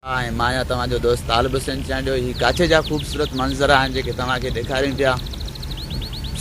آء ۽ مان يا توهان جو دوست طالب حسين چانڊيو هي ڪاڇي جا خوبصورت منظر آهن جيڪي توهان کي ڏيکاريون پيا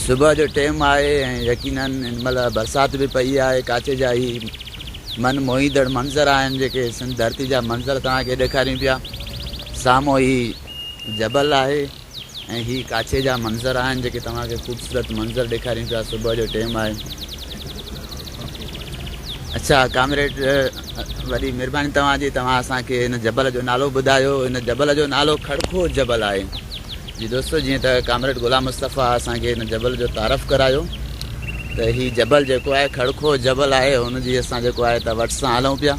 صبح جو ٽيم آهي ۽ يقينن هن مهل برسات به پئي آهي ڪاڇي جا هي من موهيندڙ منظر آهن جيڪي سنڌ ڌرتي جا منظر توهان کي ڏيکاريون پيا سامهون هي جبل آهي ۽ هي ڪاڇي جا منظر آهن جيڪي توهان کي خوبصورت منظر ڏيکاريون پيا صبح جو ٽيم آهي اڇا ڪامريڊ وڏي مهرباني توهان جي توهان اسان کي هن جبل جو نالو ٻڌايو هن جبل جو نالو کڙکو جبل آهي جي دوستو جيئن ته ڪامريڊ غلام مصطفيٰ اسان کي هن جبل جو تعارف ڪرايو ته هي جبل جيڪو آهي کڙکو جبل آهي هن جي اسان جيڪو آهي ته وٽ سان هلون پيا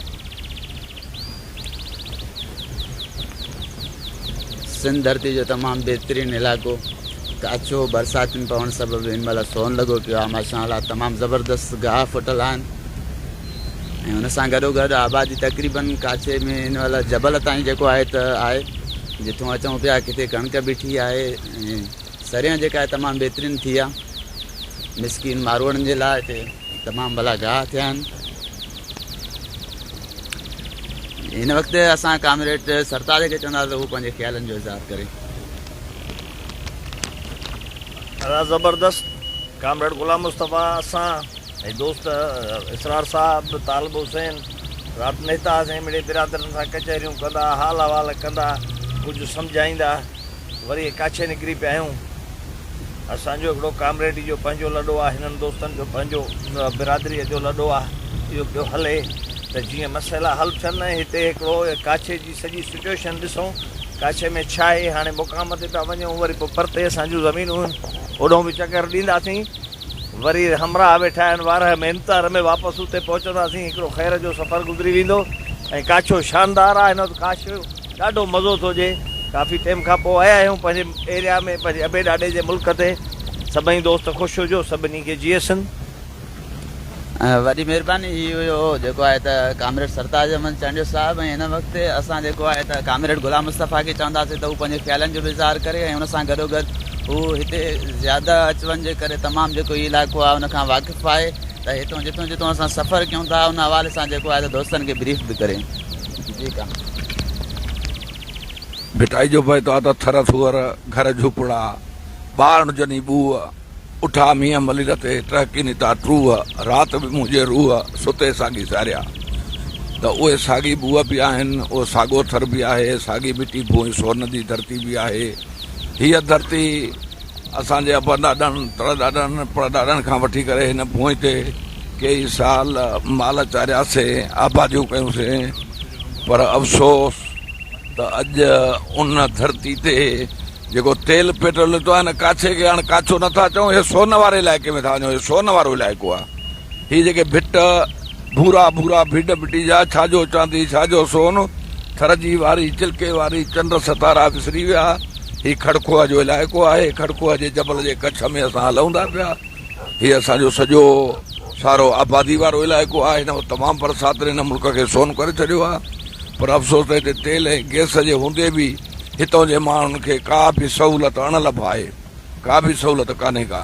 سنڌ ڌرتي جو تمام بهترين علائقو ته اڇو برساتين پوڻ سبب هن مهل سون لڳو پيو آهي ماشاء الله تمام زبردست گاهه ڦٽل آهن ۽ ان سان گڏو گڏ آبادي تقريبن ڪاڇي ۾ هن مهل جبل تائين جيڪو آهي ته آهي جتو اچون پيا ڪٿي ڪڻڪ بيٺي آهي ۽ سريان جيڪا آهي تمام بهترين ٿي آهي مسڪين ماروڙن جي لاء هتي تمام ڀلا گاهه ٿيا آهن هن وقت اسان ڪامريڊ سرتاج کي چوندا ته هو پنهنجي خيالن جو اظهار ڪري. ادا زبردست ڪامريڊ غلام مصطفيٰ اسان ۽ دوست اسرار صاحب طالب حسين رات نهتا هئاسين مڙئي برادرن سان ڪچهريون ڪندا حال احوال ڪندا ڪجهه سمجهائيندا. وري اڪاڇي نڪري پيا آهيون. اسان جو هڪڙو ڪامريڊي جو پنهنجو لڏو آهي، هنن دوستن جو پنهنجو برادريء جو لڏو آهي، اهو پيو هلي ته جيئن مسئلا حل ٿين ۽ هتي هڪڙو ڪاڇي جي سڄي سچوئيشن ڏسون، ڪاڇي ۾ ڇا آهي، هاڻي مقام تي پيا وڃون، وري پوء پرتي اسان جون زمينون آهن، اوڏهون به چڪر ڏينداسين، وري همراهه ويٺا آهن، وارهه مهنتار ۾ واپس اتي پهچنداسين، هڪڙو خير جو سفر گذري ويندو ۽ ڪاڇو شاندار آهي، هن وقت ڪاڇو. ڏاڍو مزو ٿو اچي ڪافي ٽيم کان پوء آيا آهيون پنهنجي ايريا ۾ پنهنجي ابي ڏاڏي جي ملڪ تي سڀئي دوست خوش هجو سڀني کي جيئي سنڌ. وڏي مھرباني ھي ھيو جيڪو آھي ته ڪامريڊ سرتاج احمد چانڊيو صاحب ۽ ھن وقت تي اسان جيڪو آھي ته ڪامريڊ غلام مصطفيٰ کي چونداسين ته ھو پنھنجي خيالن جو به اظھار ڪري ۽ ان سان گڏوگڏ ھو ھتي زياده اچ وڃ جي ڪري تمام جيڪو ھي علائقو آھي ان کان واقف آھي ته ھتو جتو جتو اسان سفر ڪيون ٿا ان حوالي سان جيڪو آھي ته دوستن کي بريف به ڪري. ڀٽائي جو بيت آ ته ٿر ٿوئر، گهر جهوپڙا، ٻارڻ جني ٻوء، اٺا مينهن ملير تي، ٽهڪي نتا ٽوء، رات به منهنجي روء، ستي ساڳي ساريا. ته اهي ساڳي ٻوء به آهن، اهو ساڳو ٿر به آهي، ساڳي مٽي ڀونء سور ندي ڌرتي به آهي. هيء ڌرتي. اسان جي ابا ڏاڏن، تڙ ڏاڏن، پڙ ڏاڏن کان وٺي ڪري هن ڀونء تي ڪيئي سال مال چارياسين، آباديون ڪيونسين، پر افسوس ته اڄ ان ڌرتي تي جيڪو تيل پيٽرول نڪتو آهي، هن ڪاڇي کي هاڻ ڪاڇو نه ٿا چئون، هي سون واري علائقي ۾ ٿا وڃون، هي سون وارو علائقو آهي. هي جيڪي ڀٽ، ڀورا ڀورا ڀيڊ ڀٽي جا، ڇا جو چاندي ڇا جو سون، ٿر جي واري چلڪي واري، چنڊ ستارا وسري ويا، هي کڙکوهه جو علائقو آهي، کڙکوهه جي جبل جي ڪڇ ۾ اسان هلئون ٿا پيا، هي اسان جو سڄو سارو آبادي وارو علائقو آهي، هن تمام برساتن هن ملڪ کي سون ڪري ڇڏيو آهي، پر افسوس ته هتي تيل ۽ گئس جي هوندي به هتئون جي ماڻهن کي ڪا به سهولت اڻ لڀ آهي. ڪا به سهولت ڪانهي ڪا.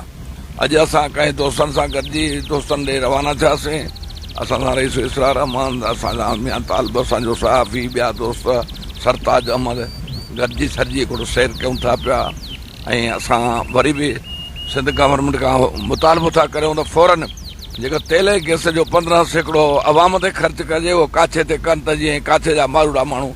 اڄ اسان ڪنهن دوستن سان گڏجي دوستن ڏي روانا ٿياسين. اسان سان رئيس اسرار احمد، اسان سان ميان طالب، اسان جو صحافي، ٻيا دوست سرتاج احمد گڏجي سرجي هڪڙو سير ڪيون ٿا پيا ۽ اسان وري به سنڌ گورنمينٽ کان مطالبو ٿا ڪريون ته فورن جيڪو تيل ۽ گئس جو پندرهن سيڪڙو عوام تي خرچ ڪجي اهو ڪاڇي تي ڪن ته جيئن ڪاڇي جا ماروئڙا ماڻهو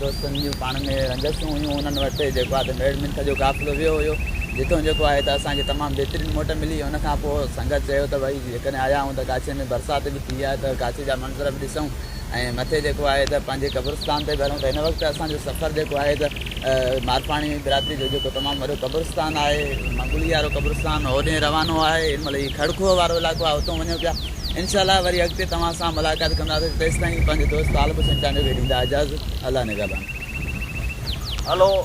دوستن جون پاڻ ۾ رنجشون هيون انهن وٽ جيڪو آهي ته ميڙ منٿ جو قافلو ويو هيو جتو جيڪو آهي ته اسان کي تمام بهترين موٽ ملي ان کان پوء سنگت چيو ته ڀئي جيڪڏهن آيا آهيون ته ڪاڇي ۾ برسات به ٿي آهي ته ڪاڇي جا منظر به ڏسون ۽ مٿي جيڪو آهي ته پنهنجي قبرستان تي به هلون ته هن وقت اسان جو سفر جيڪو آهي ته مارپاڻي برادري جو جيڪو تمام وڏو قبرستان آهي منگولي وارو قبرستان هوڏي روانو آهي هن مهل هي کڙکوهه وارو علائقو آهي هتون وڃون پيا انشاء الله وري اڳتي توهان سان ملاقات ڪنداسين تيستائين پنهنجي دوست طالب حسين چانڊيو کي ڏيندا اجازت الله نگهبان. هلو.